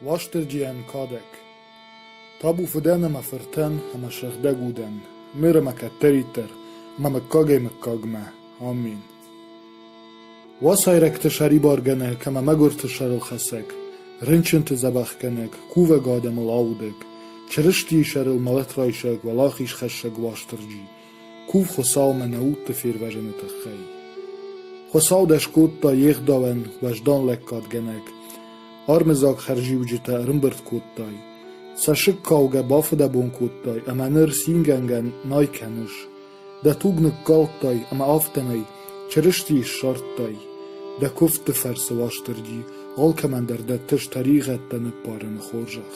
Уастырджийӕн кадӕг: Табу фыдӕн ӕмӕ фыртӕн ӕмӕ сыгъдӕг удӕн, ныр ӕмӕ кӕддӕриддӕр мӕ мыггагӕй-мыггагмӕ! Амин! Уацайрӕгты сӕрибаргӕнӕг ӕмӕ мӕгуырты сӕрылхӕцӕг, рынчынты дзӕбӕхгӕнӕг, кувӕг адӕмыл аудӕг, Чырыстийы сӕрыл мӕлӕт райсӕг уӕлахизхӕссӕг Уастырджи Ку Хуцаумӕ нӕ удты фервӕзыны тыххӕй. Хуцау дӕ скодта йе гъдауӕн уӕздан лӕггадгӕнӕг, армыдзаг хӕрзиуджытӕ ӕрӕмбырд кодтай, цӕссыгкӕугӕ бафыдӕбон кодтай ӕмӕ ныр цингӕнгӕ най кӕныс. Дӕ туг ныккалдтай ӕмӕ афтӕмӕй Чырыстийы ссардтай, дӕ куывдты фӕрцы Уастырджи алкӕмӕн дӕр дӕттыс тӕригъӕдтӕ ныппарыны хорзӕх.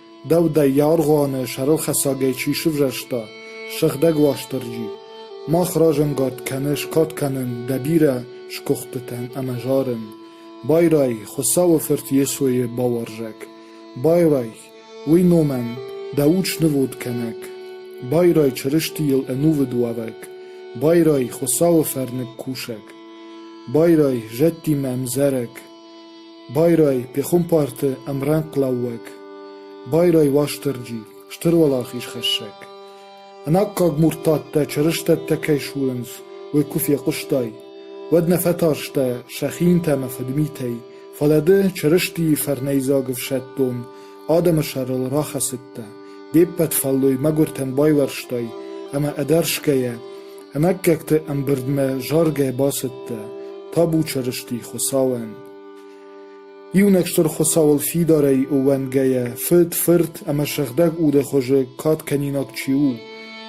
Дӕу дӕ аргъуаны сӕрылхӕцӕгӕй чи сывзӕрста, сыгъдӕг Уастырджи, мах разӕнгард кӕны скад кӕнын дӕ бирӕ сгуыхтытӕн ӕмӕ зарын. Байрай, Хуыцауы Фырт Йесойы бауарзӕг! Байрай, уый номӕн дӕ уд снывонд кӕнӕг! Байрай Чырыстийыл ӕнувыд уӕвӕг! Байрай Хуыцауы фӕрныг кусӕг! Байрай зӕдтимӕ ӕмдзӕрӕг! Байрай, пехуымпарты ӕмрӕнхълӕууӕг, байрай, Уастырджи, Стыр Уӕлахизхӕссӕг! Ӕнаккаг муртаттӕ чырыстӕттӕ кӕй сурынц, уый куы фехъуыстай, уӕд нӕ фӕтарстӕ сӕ хинтӕ ӕмӕ фыдмитӕй, фӕлӕ ды Чырыстийы фӕрнӕйдзаг ӕфсӕддон Адӕмы сӕрыл рахӕцыдтӕ, де ппӕт фӕллой мӕгуыртӕн байуӕрстай ӕмӕ ӕдӕрсгӕйӕ ӕнаккӕгты ӕмбырдмӕ заргӕ бацыдтӕ, табу Чырысти Хуыцауӕн! Иунӕг Стыр Хуыцауыл фидарӕй ууӕндгӕйӕ, фыд, фырт ӕмӕ сыгъдӕг уды хуызы кад кӕнинаг чи у,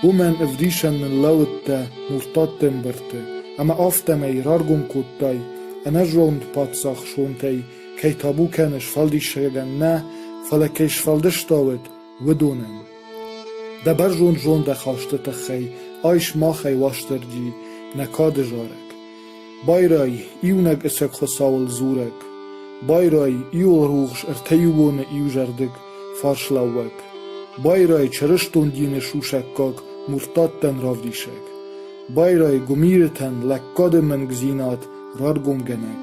уымӕн ӕвдисӕн ныллӕууыдтӕ Муртаттӕ мбырды, ӕмӕ афтӕмӕй раргом кодтай ӕнӕзонд паддзах сонтӕй кӕй табу кӕны сфӕлдисӕгӕн нӕ, фӕлӕ кӕй сфӕлдыста уӕд, уыдонӕн. Дӕ бӕрзонд зондахасты тыххӕй айс махӕй Уастырджи нӕ кады зарӕг. Байрай, иунӕг ӕцӕг Хуыцауыл дзурӕг. Байрай, иуыл рухс ӕртӕиубоны иузӕрдыг фарслӕууӕг. Байрай чырыстон дины сусӕггаг муртаттӕн равдисӕг. Байрай гуымирытӕн лӕггады мӕнгдзинад раргомгӕнӕг.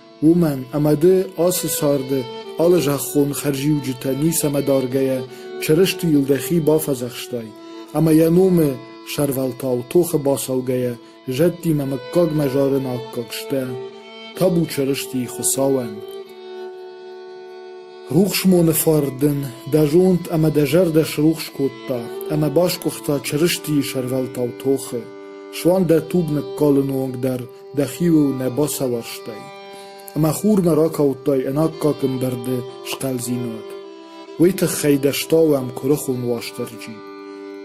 уымӕн ӕмӕ ды ацы царды алы зӕххон хӕрзиуджытӕ ницӕмӕ даргӕйӕ Чырыстийыл дӕхи бафӕдзӕхстай ӕмӕ йӕ номы сӕрвӕлтау тохы бацӕугӕйӕ зӕдтимӕ мыггагмӕ зарын аккаг сдӕ табу Чырыстийы Хуыцауӕн. Рухсмоны фарн дын дӕ зонд ӕмӕ дӕ зӕрдӕ срухс кодта ӕмӕ басгуыхта Чырыстийы сӕрвӕлтау тохы. Суанг дӕ туг ныккалы онг дӕр дӕхиуыл нӕ бацауӕрстай, ӕмӕ хурмӕ ракалдтай ӕнаккагдӕр дӕ схъӕлдзинад. Уый тыххӕй дӕ стауӕм куырыхон Уастырджи.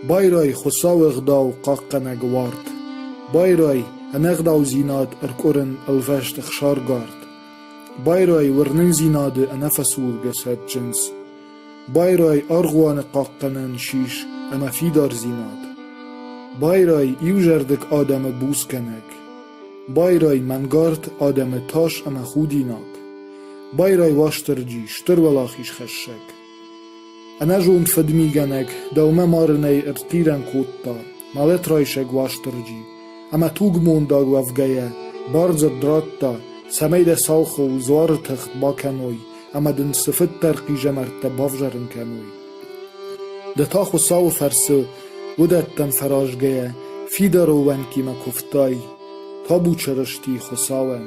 Байрай Хуыцауы ӕгъдау хъахъхъӕнӕг уарт, байрай ӕнӕгъдаудзинад ӕркъуырын ӕлвӕст ӕхсаргард, байрай уырнындзинады ӕнӕфӕсургӕ цӕджындз. Байрай аргъуаны хъахъхъӕнӕн сис ӕмӕ фидардзинад. Байрай иузӕрдыг адӕмы буцгӕнӕг. Байрай мӕнгард адӕмы тас ӕмӕ худинаг. Байрай Уастырджи, Стыр Уӕлахизхӕссӕг. Ӕнӕзонд фыдмигӕнӕг дӕумӕ марынӕй ӕртхъирӕн кодта мӕлӕтрайсӕг Уастырджи ӕмӕ тугмондаг уӕвгӕйӕ бардзырд радта, цӕмӕй дӕ сау хо Дзуары тыхт бакӕной ӕмӕ дын цыфыддӕр хъизӕмӕрттӕ бавзарын кӕной. Ды та Хуыцауы фӕрцы уыдӕттӕм фӕразгӕйӕ фидар ууӕнкимӕ куывтай, табу Чырысти Хуыцауӕн.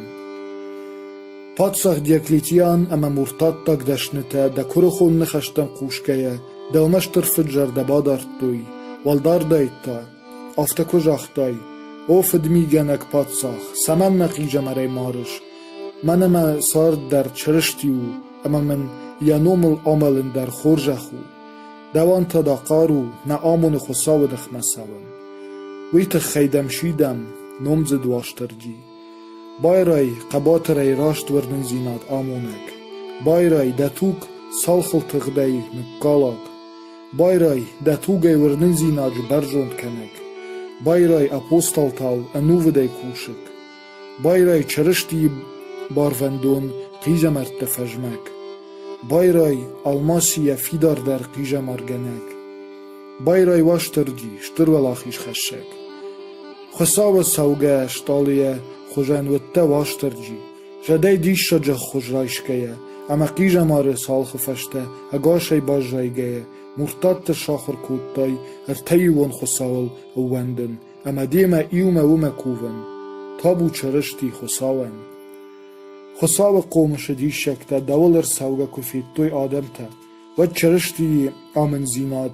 Паддзах Диоклетиан ӕмӕ муртаттаг дӕснытӕ дӕ куырыхон ныхӕстӕм хъусгӕйӕ дӕумӕ стыр фыд зӕрдӕ бадардтой, уӕлдардӕй та Афтӕ куы загътай: «О фыдмигӕнӕг паддзах, цӕмӕн мӕ хъизӕмарӕй марыс? Мӕнӕ мӕ цард дӕр Чырысти у, ӕмӕ мын Йӕ номыл амӕлын дӕр хорзӕх у. Дӕуӕн та дӕ хъару нӕ амоны Хуыцауы ныхмӕ цӕуын. Уый тыххӕй дӕм сидӕм, номдзыд Уастырджи. Байрай хъӕбатырӕй раст уырнындзинад амонӕг, байрай дӕ туг цалхыл тыгъдӕй ныккалаг. Байрай, дӕ тугӕй уырнындзинад сбӕрзонд кӕнӕг, байрай, апостолтау ӕнувыдӕй кусӕг, байрай, Чырыстийы барвӕндон хъизӕмӕртты фӕзмӕг, байрай, алмаси йӕ фидардӕр хъизӕмаргӕнӕг, байрай, Уастырджи, Стыр Уӕлахизхӕссӕг! Хуыцауы цӕугӕ стъалыйӕ хуызӕн уыдтӕ Уастырджи, Задӕй диссаджы ӕххуыс райсгӕйӕ ӕмӕ хъизӕмары цалхы фӕстӕ ӕгасӕй баззайгӕйӕ Муртаттӕ сахуыр кодтай ӕртӕиуон Хуыцауыл ӕууӕндын ӕмӕ демӕ иумӕ уымӕ кувын, табу Чырысти Хуыцауӕн. Хуыцауы хъомысы диссӕгтӕ дӕуыл ӕрцӕугӕ куы федтой адӕмтӕ, уӕд Чырыстийы амынддзинад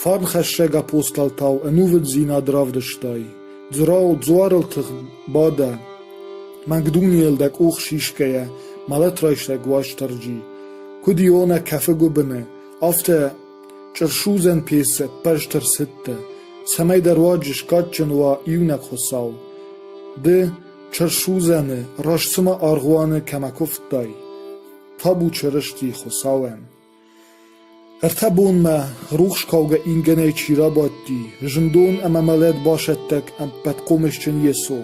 Фарнхӕссӕг апостолтау ӕнувыддзинад равдыстай, Дзрау дзуарыл тыгъд бадӕ, Макдунейыл дӕ къух сисгӕйӕ мӕлӕт райсӕг Уастырджи, куыд Иона кӕфы гуыбыны, афтӕ чъырсудзӕн пецы ӕппӕрст ӕрцыдтӕ, цӕмӕй дӕ руаджы скадджын уа иунӕг Хуыцау. Ды чъырсудзӕны раст цыма аргъуаны кӕмӕ куывтай, табу Чырысти Хуыцауӕн! Ӕртӕ бонмӕ, рухс кӕугӕ ингӕнӕй чи рабадти, зындон ӕмӕ мӕлӕт басӕттӕг ӕппӕтхъомысджын Йесо.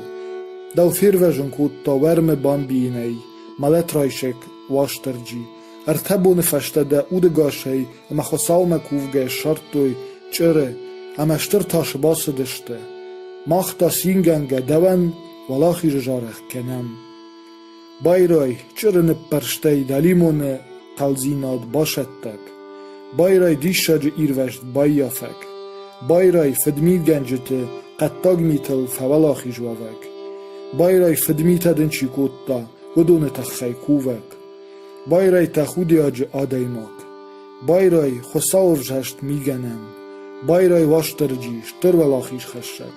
Дӕу фервӕзын кодта уӕрмы бамбийынӕй, мӕлӕт райсӕг Уастырджи. Ӕртӕ боны фӕстӕ дӕ удӕгасӕй ӕмӕ Хуыцаумӕ кувгӕ ссардтой чъыры, ӕмӕ стыр тасы бацыдысты. Мах та цингӕнгӕ дӕуӕн Уӕлахизы зарӕг кӕнӕм. Байрай чъыры ныппӕрстӕй дӕлимоны хъӕлдзинад басӕттӕг, Байрай диссаджы ирвӕзт баййафӕг, Байрай фыдмигӕнджыты хъӕддаг митыл фӕуӕлахиз уӕвӕг, Байрай фыдмитӕ дын чи кодта, уыдоны тыххӕй кувӕг, Байрай тӕхудиаджы адӕймаг, Байрай Хуыцауӕвзӕрст мигӕнӕн, Байрай Уастырджи стыр уӕлахизхӕссӕг.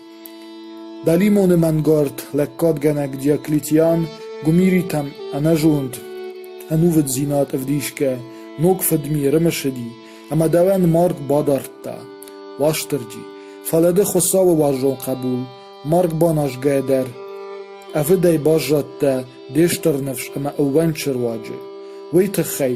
Дӕлимони мӕнгард лӕггадгӕнӕг Диоклетиан гуымиритӕм ӕнӕзонд, ӕнувыддзинад ӕвдисгӕ ног фыдми ӕрымысыди ӕмӕ дӕуӕн марг бадардта, Уастырджи, фӕлӕ ды Хуыцауы уарзон хъӕбул, марг баназгӕ дӕр. Ӕвыдӕй баззадтӕ де стыр ныфс ӕмӕ ӕууӕнчы руаджы. Уый тыххӕй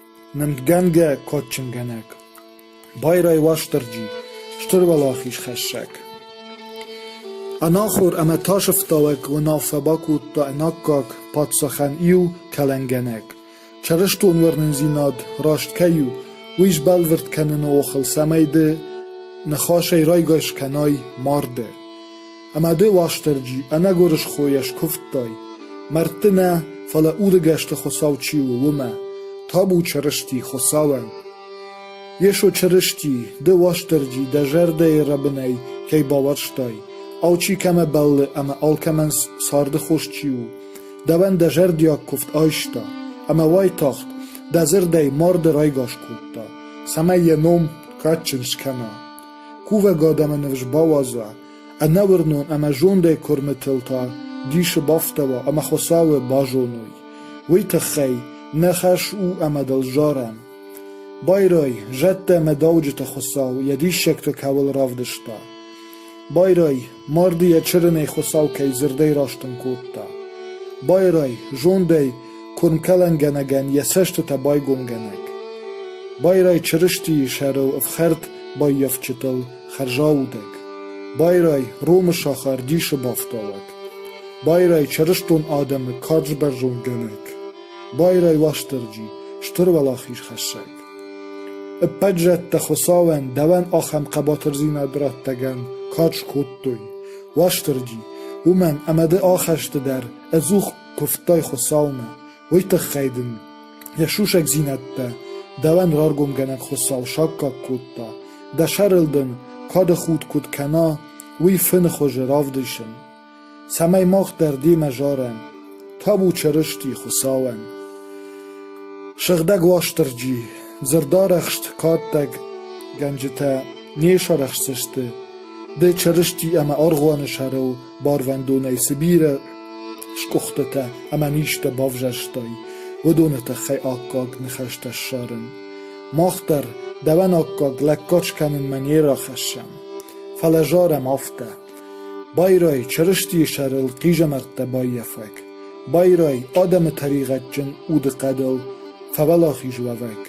Нымдгӕнгӕ кадджынгӕнӕг, Байрай Уастырджи, Стыр уӕлахизхӕссӕг. Ӕнахуыр ӕмӕ тасӕфтауӕг уынаффӕ бакодта ӕнаккаг паддзахӕн иу кӕлӕнгӕнӕг: чырыстон уырнындзинад раст кӕй у, уый сбӕлвырд кӕныны охыл цӕмӕй ды ныхасӕй райгас кӕнай марды. Ӕмӕ де Уастырджи ӕнӕгуырысхойӕ скуывдтай, мӕрдты нӕ, фӕлӕ удыгӕсты Хуыцау чи у, уымӕ, табу Чырысти Хуыцауӕн. Йесо Чырысти, Ды, Уастырджи, дӕ зӕрдӕйы рӕбынӕй кӕй бауарзтай, алчи кӕмӕ бӕллы ӕмӕ алкӕмӕн царды хос чи у, дӕуӕн дӕ зӕрдиаг куывд айста ӕмӕ уайтагъд дӕ дзырдӕй марды райгас кодта, цӕмӕй йӕ ном кадджын скӕна, кувӕг адӕмы ныфс бауадза Ӕнӕуырнон ӕмӕ зондӕй куырмытыл та дисы бафтауа ӕмӕ Хуыцауы базоной, уый тыххӕй нӕ хӕс у ӕмӕ дыл зарӕм. Байрай, зӕдтӕ ӕмӕ дауджыты Хуыцау йӕ диссӕгты кӕуыл равдыста. Байрай, марды йӕ чырынӕй Хуыцау кӕй дзырдӕй растын кодта. Байрай, зондӕй куырмкӕлӕнгӕнӕгӕн йӕ цӕстытӕ байгомгӕнӕг. Байрай Чырыстийы сӕрыл ӕфхӕрд баййафджытыл хӕрзаудӕг, байрай Ромы сахар дисы бафтауӕг, байрай чырыстон адӕмы карз бӕрзондгӕнӕг, байрай Уастырджи стыр уӕлахизхӕссӕг. Ӕппӕт зӕдтӕ Хуыцауӕн дӕуӕн ахӕм хъӕбатырдзинад раттӕгӕн кад скодтой, Уастырджи, уымӕн ӕмӕ ды ахӕсты дӕр ӕдзух куывтай Хуыцаумӕ, уый тыххӕй дын йӕ сусӕгдзинӕдтӕ дӕуӕн раргомгӕнӕг Хуыцау саккаг кодта, дӕ сӕрыл дын кады худ куыд кӕна, уый фыны хуызы равдисын, цӕмӕй мах дӕр демӕ зарӕм табу Чырысти Хуыцауӕн. Сыгъдӕг Уастырджи, дзырдарӕхст каддӕггӕнджытӕ не сарӕхсдзысты, ды Чырысти ӕмӕ аргъуаны сӕрыл барвӕндонӕй цы бирӕ скъуыхтытӕ ӕмӕ низтӕ бавзӕрстай, уыдоны тыххӕй аккаг ныхӕстӕ ссарын. Мах дӕр дӕуӕн аккаг лӕггад скӕнынмӕ не рахӕссӕм, фӕлӕ зарӕм афтӕ. Байрай Чырыстийы сӕрыл хъизӕмӕрттӕ баййафӕг, байрай адӕмы тӕригъӕдджын удыхъӕдыл фӕуӕлахиз уӕвӕг,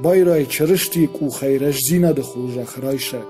байрай Чырыстийы къухӕй рӕстдзинады хорзӕх райсӕг,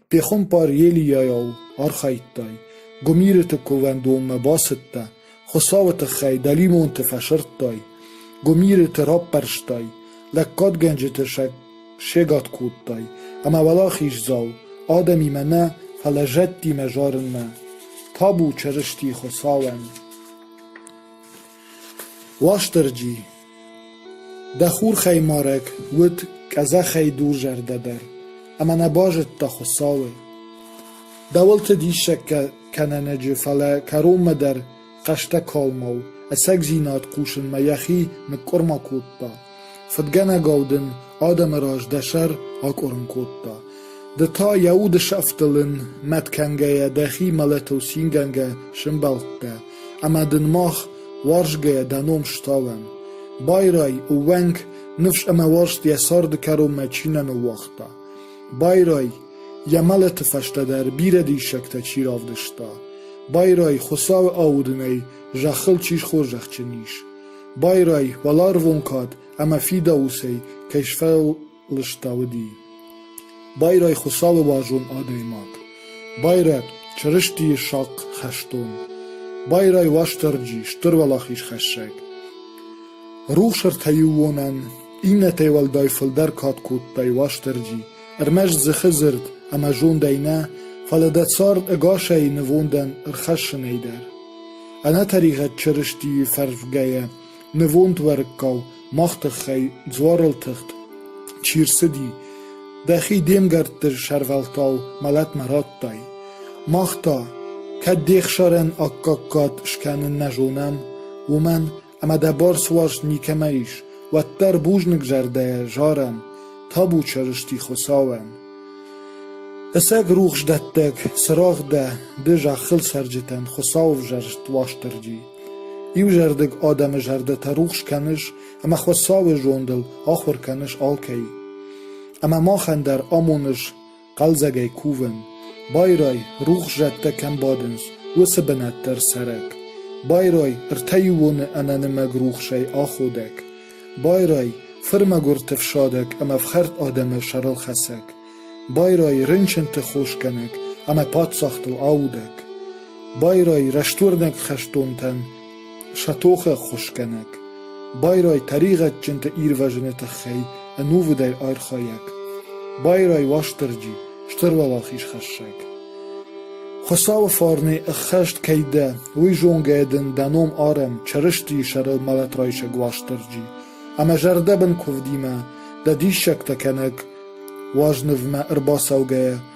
Пехуымпар Елийӕйау архайдтай, гуымирыты кувӕндонмӕ бацыдтӕ, Хуыцауы тыххӕй дӕлимонты фӕсырдтай, гуымирыты раппӕрстай, лӕггадгӕнджыты сӕ сегад кодтай, ӕмӕ уӕлахиздзау адӕмимӕ нӕ, фӕлӕ зӕдтимӕ зарынмӕ табу Чырыстийы Хуыцауӕн. Уастырджи, дӕ хурхӕймарӕг уыд къӕдзӕхӕй дурзӕрдӕ дӕр, ӕмӕ нӕ базыдта Хуыцауы. Дӕуылты диссӕгтӕ кӕнӕнӕджы, фӕлӕ кӕронмӕ дӕр хъӕстӕ калмау, ӕцӕгдзинад хъусынмӕ йӕхи ныкъкъуырма кодта. Фыдгӕнӕгау дын адӕмы раз дӕ сӕр акъуырын кодта, ды та йӕ уды сӕфтыл ын мӕт кӕнгӕйӕ дӕхи мӕлӕтыл цингӕнгӕ сӕмбӕлдтӕ ӕмӕ дын мах уарзгӕйӕ дӕ ном стауӕм. Байрай, ӕууӕнк, ныфс ӕмӕ уарзт йӕ царды кӕронмӕ чи нӕ ныууагъта. Байрай, йӕ мӕлӕты фӕстӕ дӕр бирӕ диссӕгтӕ чи равдыста. Байрай, Хуыцауы аудынӕй зӕххыл чи схорзӕхджын ис. Байрай, уӕларвон кад ӕмӕ фидауцӕй кӕй сфӕлыстӕуыди. Байрай Хуыцауы уарзон адӕймаг. Байрӕт Чырыстийы сахъ хӕстон. Байрай Уастырджи, Стыр Уӕлахизхӕссӕг. Рухс ӕртӕиуонӕн, иннӕтӕй уӕлдай фылдӕр кад кодтай Уастырджи, ӕрмӕст дзыхы дзырд ӕмӕ зондӕй нӕ, фӕлӕ дӕ цард ӕгасӕй нывондӕн ӕрхӕссынӕй дӕр. Ӕнӕтӕригъӕд Чырыстийы фӕрсгӕйӕ, нывонд уӕрыккау мах тыххӕй дзуарыл тыхт чи рцыди, дӕхи де мгӕртты сӕрвӕлтау мӕлӕтмӕ радтай. Мах та, кӕд де хсарӕн аккаг кад скӕнын нӕ зонӕм, уымӕн Ӕмӕ дӕ бӕрц уарзт никӕмӕ ис, уӕддӕр бузныгзӕрдӕйӕ зарӕм, табу Чырысти Хуыцауӕн. Ӕцӕг рухсдӕттӕг, цырагъ дӕ, ды зӕххыл цӕрджытӕн Хуыцау ӕвзӕрст Уастырджи. Иузӕрдыг адӕмы зӕрдӕтӕ рухс кӕныс ӕмӕ Хуыцауы зондыл ахуыр кӕныс алкӕй. Ӕмӕ махӕн дӕр амоныс хъӕлдзӕгӕй кувын, байрай, рухс зӕдтӕ кӕм бадынц, уыцы бынат дӕр цӕрӕг, байрай, ӕртӕиуоны ӕнӕнымӕг рухсӕй аходӕг, байрай, фырмӕгуырты фсадӕг ӕмӕ фхӕрд адӕмы сӕрылхӕцӕг, байрай, рынчынты хосгӕнӕг ӕмӕ паддзахтыл аудӕг, байрай, рӕстуырнӕг хӕстонтӕн Сӕ тохы ӕххуысгӕнӕг, байрай тӕригъӕдджынты ирвӕзыны тыххӕй ӕнувыдӕй архайӕг, байрай Уастырджи, стыр уӕлахизхӕссӕг. Хуыцауы фарнӕй ӕххӕст кӕй дӕ, уый зонгӕйӕ дын дӕ ном арӕм Чырыстийы сӕрыл мӕлӕтрайсӕг Уастырджи, ӕмӕ зӕрдӕбын куывдимӕ, дӕ диссӕгтӕ кӕнӕг уазнывмӕ ӕрбацӕугӕйӕ,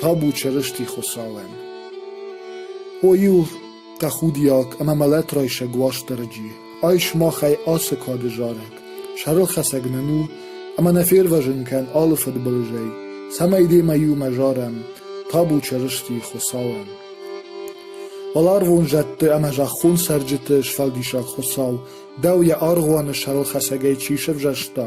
Табу Чырысти Хуыцауӕн! О-иу тӕхудиаг ӕмӕ мӕлӕтрайсӕг Уастырджи, ай сымахӕй ацы кады зарӕг, сӕрылхӕцӕг нын у ӕмӕ нӕ фервӕзын кӕн алы фыдбылызӕй, цӕмӕй демӕ иумӕ зарӕм Табу Чырысти Хуыцауӕн! Уӕларвон зӕдты ӕмӕ зӕххон цӕрджыты Сфӕлдисӕг Хуыцау, дӕу йӕ аргъуаны сӕрылхӕцӕгӕй чи сӕвзӕрста,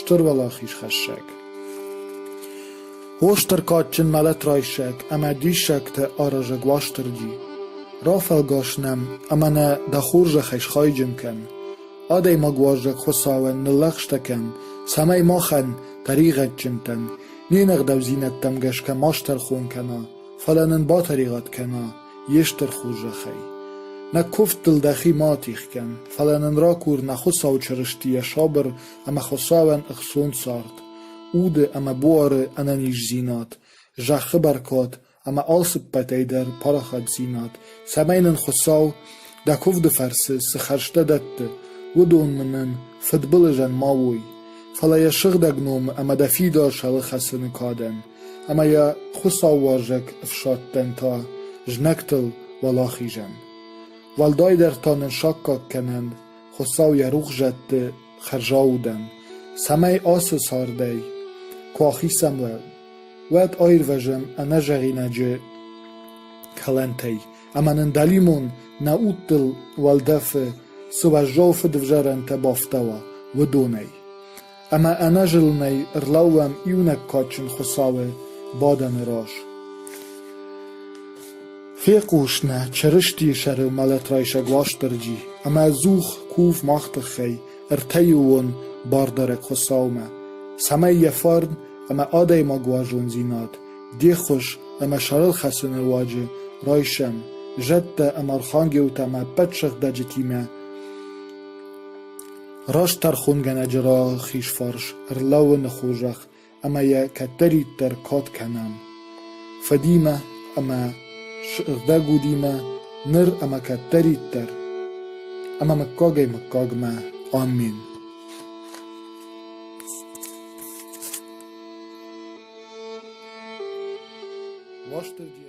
Стуруӕлахизхӕссӕг Остыр кадджын мӕлӕт райсӕг ӕмӕ диссӕгты аразӕг Уастырджи, Рафӕлгӕс нӕм ӕмӕ нӕ дӕ хорзӕхӕй схайджын кӕн, адӕймаг уарзаг Хуыцауӕн ныллӕгъстӕ кӕн, цӕмӕй махӕн, тӕригъӕдджынтӕн, не нӕгъдӕвдзинӕдтӕм гӕсгӕ ма стӕрхон кӕна, фӕлӕ нын батӕригъӕд кӕна йе стыр хорзӕхӕй. Нӕ куывд дыл дӕхи ма атих кӕн, фӕлӕ нын ракур нӕ Хуыцау Чырысти йӕ сабыр ӕмӕ Хуыцауӕн ӕхцон цард, уды ӕмӕ буары ӕнӕниздзинад, зӕххы бӕркад ӕмӕ алцыппӕтӕй дӕр парахатдзинад, цӕмӕй нын Хуыцау дӕ куывды фӕрцы цы хӕрзтӕ дӕтты, уыдонны нын фыдбылызӕн ма уой. Фӕлӕ йӕ сыгъдӕг номы ӕмӕ дӕ фидарсӕлы хӕцыны кадӕн ӕмӕ йӕ хуыцаууарзаг ӕфсӕдтӕн та знӕгтыл уӕлахизӕн. Уӕлдайдӕр та нын саккаг кӕнӕн Хуыцау йӕ рухсзӕдты хӕрзау удӕн, цӕмӕй ацы цардӕй куы ахицӕн уа, уӕд аирвӕзӕм ӕнӕзӕгъинаджы кӕлӕнтӕй ӕмӕ нын дӕлимон нӕ удтыл уӕлдӕфы цы уӕззау фыдывзарӕнтӕ бафтауа, уыдонӕй. Ӕмӕ ӕнӕзылынӕй ӕрлӕууӕм иунӕг кадджын Хуыцауы бадӕны раз. Фехъус нӕ Чырыстийы сӕры мӕлӕтрайсӕг Уастырджи ӕмӕ Дзух кув мах тыххӕй ӕртӕйыуон бардарӕг Хуыцаумӕ, цӕмӕй йӕ фарн ӕмӕ адӕймаг уарзондзинад, де ххуыс ӕмӕ сӕрылхӕцыны руаджы райсӕм зӕдтӕ ӕмӕ архангелтӕ ӕмӕ ӕппӕт сыгъдӕджытимӕ Раст тӕрхонгӕнӕджы рахизфарс ӕрлӕууыны хорзӕх ӕмӕ йӕ кӕддӕриддӕр кад кӕнӕм фыдимӕ ӕмӕ сыгъдӕг удимӕ ныр ӕмӕ кӕддӕриддӕр ӕмӕ мыггагӕй мыггагмӕ. Амин. Уастырджи